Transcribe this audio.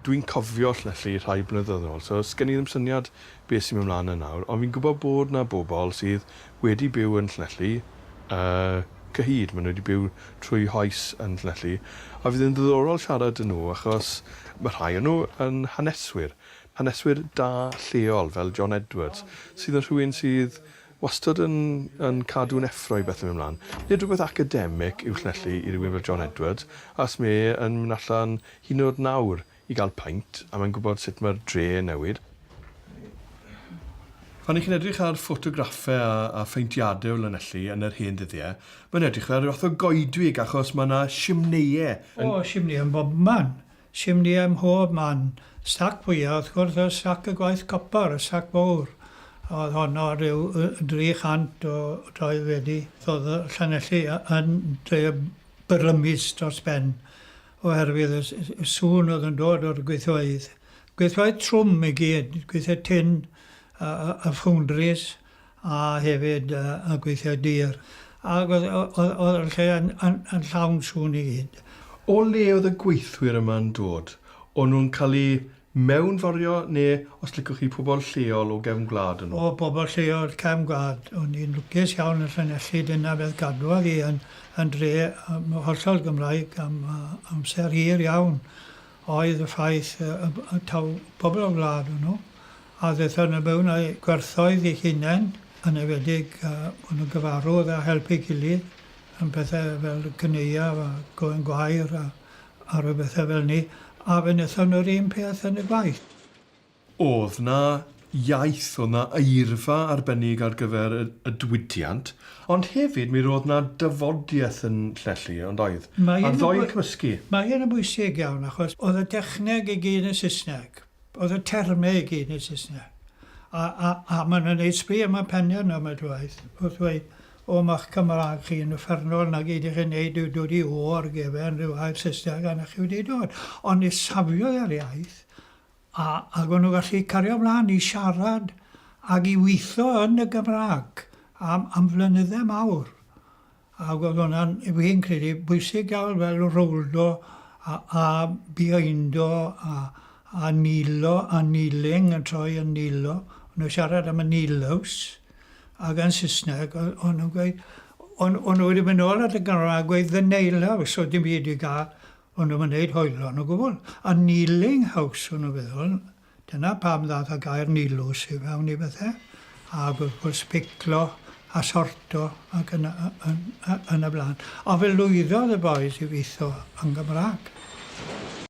Dwi'n cofio Llyfli rhai blynyddoedd yn ôl, so sgen i ddim syniad beth sy'n mynd mlaen yna nawr, ond fi'n gwybod bod 'na bobl sydd wedi byw yn Llyfli y cyhyd, maen nhw wedi byw trwy hoes yn Llyfli, a fydd yn ddiddorol siarad â nhw achos mae rhai o nhw yn haneswyr, haneswyr da lleol fel John Edwards, sydd yn rhywun sydd Wastad yn yn cadw'n effro i bethe mynd mlan. Nid rhywbeth academic yw llanelli i rywun fel John Edwards, as mae e yn mynd allan hyd yn o'd nawr i ga'l paint, a mae'n gwbod sut mae'r dre yn newid. Pan 'ych chi'n edrych ar ffotograffe a a phaentiade o lanelli yn yr hen ddyddie, mae'n edrych fel rhyw fath o goedwig achos mae 'na shimneie yn... O, shimneie yn bobman! Simndiau mhob man. Stac fwya, wrth gwrs, oedd stac y gwaith copr, y stac fowr. Oedd honno rhyw 300 o droed wedi ddodd y Llanelli yn dre brymus dros ben oherwydd y sŵn oedd yn dod o'r gweithfeydd. Gweithfeydd trwm i gyd, gweithfeydd tin, y ffowndris a hefyd y gweithiau dur, ac oedd oedd oedd y lle yn yn yn llawn sŵn i gyd. O le oedd y gweithwyr yma'n dod? O'n nhw'n cael eu mewnforio neu os licwch chi pobl lleol o gefn gwlad o'n nhw? O bobl lleol cefn gwlad. O'n i'n lwcus iawn yn Llanelli, dyna beth gadwodd i yn yn dre yym hollol Gymraeg am yy amser hir iawn oedd y ffaith yy y b- y taw pobl o'r wlad o'n nhw. a ddaethon nhw mewn â'u gwerthoedd eu hunain, yn enwedig bod nhw'n gyfarwydd a helpu ei gilydd yn pethau fel caneuon a gofyn gwair a a rhyw bethau fel 'ny, a fe wnaethon nhw'r un peth yn y gwaith. O'dd 'na iaith, o'dd 'na eirfa arbennig ar gyfer y y diwydiant, ond hefyd mi ro'dd 'na dafodiaith yn Llelli, ond oedd? A'r ddou yn cymysgu. Mae hyn yn bwysig iawn achos o'dd y dechneg i gyd yn Saesneg, Oedd y termau i gyd yn Saesneg. A, a, a maen nhw'n neud sbri am y penna'n ambell waith, wrth ddweud, o ma'ch Cymraeg chi yn uffernol, 'na gyd y'ch chi'n neud yw dod i O ar gefen rhyw air Saesneg a 'na chi wedi dod. Ond ni safiodd e'r iaith, a, ag o'n nhw'n gallu cario mlaen i siarad ag i weithio yn y Gymraeg am, am flynyddau mawr. Ac oedd hwnna'n, fi'n credu, bwysig iawn fel rowldo a a bihaindo a a nilo a kneeling yn troi yn nilo. O'n nhw'n siarad am y nilos ac yn Saesneg o- o'n nhw'n gweud... o'n o'n nhw wedi mynd nôl at y ganolfan a gweud 'the nail house' oedd dim byd i gael. O'n nhw'm yn wneud hoylo yn o gwbl. A kneeling house o'n nhw'n feddwl. Dyna pam ddaeth y gair nilws i fewn i bethe, ag wrth gwrs piclo a sorto ac yn yn yn y blaen. A fe lwyddodd y bois i witho yn Gymra'g.